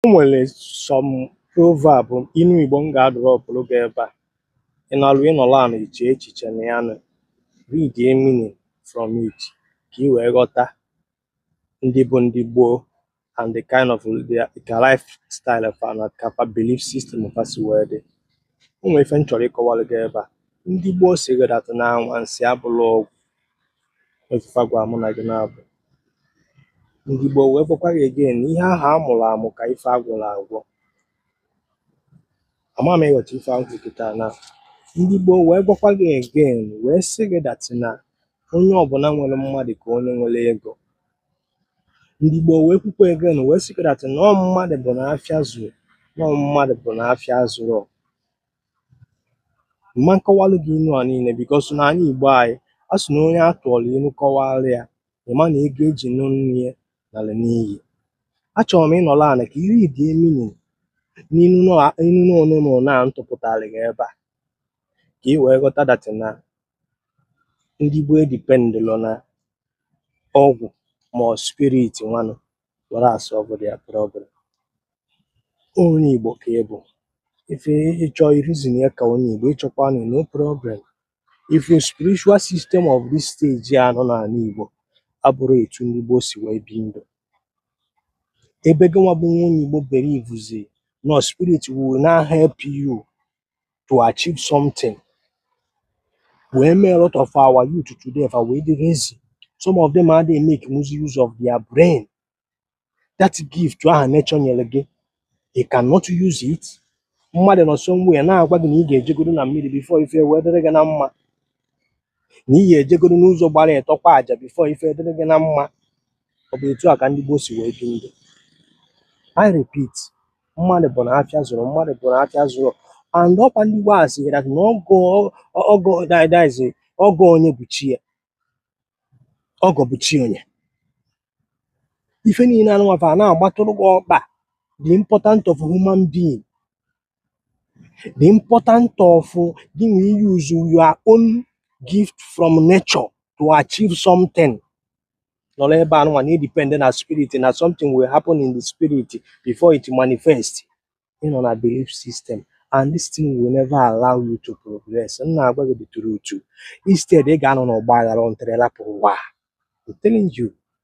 O nwere some proverb inu Igbo m ga-adrọpụrụ gị ebe a. Ị nọrọ ị nọrọ ana iche echiche na ya nụ. Read the meaning from it ka i wee ghọta ndị bụ ndị gboo and the kind of their ka lifestyle fa na ka fa belief system fa si wee dị. O nwere ife m chọrọ ịkọwara gị ebe a. Ndị gboo sịrị that na anwansi abụrọ ọgwụ. etufa gwa mụ na gị na-abụ ndị gboo wee gwakwa gị again ihe ahụ a mụrụ amụ ka ife a gwọrọ agwọ ama m ị ghọta ife ahụ kịta na ndị gboo wee gwakwa gị again wee sị gị that na onye ọbụla nwere mmadụ ka onye nwere ego ndị gboo wee kwukwa again wee sị gị that na ọ mmadụ bụ na afịa zuru na ọ mmadụ bụ na afịa zuru m ma nkọwalụ gị inu a niile because na anyị igbo anyị a sị na onye a tụọrọ inu kọwara ya ị ma na ego e ji nụ nne ya nara n'iyi achọrọ m ị nọrọ ana ka i read meaning n'inu anọ nụnwa m tụpụtara gị ebe a ka ị wee ghọta that na ndị gboo edipendịrọ na ọgwụ ma ọ spirit nwanụ were solve their problem onye Igbo ka ị bụ if ị chọọ i reason ya ka onye Igbo ị chọkwanụ no problem if your spiritual system of this stage a nọ n'ana Igbo abụrọ etu ndị gboo si wee bi ndụ ebe gị nwa bụ nwa onye Igbo believezi na spirit will now help you to achieve something wee mee a lot of our youth today fa wee dị lazy some of them adịghị emakezi use of their brain that gift ahụ nature nyere gị you cannot use it mmadụ nọ somewhere na-agwa gị na ị ga-ejegodu na mmiri before ife wee dịrị gị na mma na ị ya-ejegoro n'ụzọ gbara ịtọ kwa aja before ife dịrị gị na mma ọ bụ etu a ka ndị gboo si wee bi ndụ I repeat mmadụ bụ na afịa zuru mmadụ bụ na afịa zuru and ọkwa ndị gboo sịrị that na ọgọ ọgọ that that is ọgọ onye bụ chi ya ọgọ bụ chi onye ife niile anụnwa fa na-agbatụrụ gị ọkpa the important of human being the important of gị na use your own gift from nature to achieve something nọrọ ebe anụnwa na-edepend na spirit na something will happen in the spirit before it manifest ị nọ na belief system and this thing will never allow you to progress m na-agwa gị the truth instead ị ga-anọ n'ọgba aghara until ị rapụ ụwa I'm telling you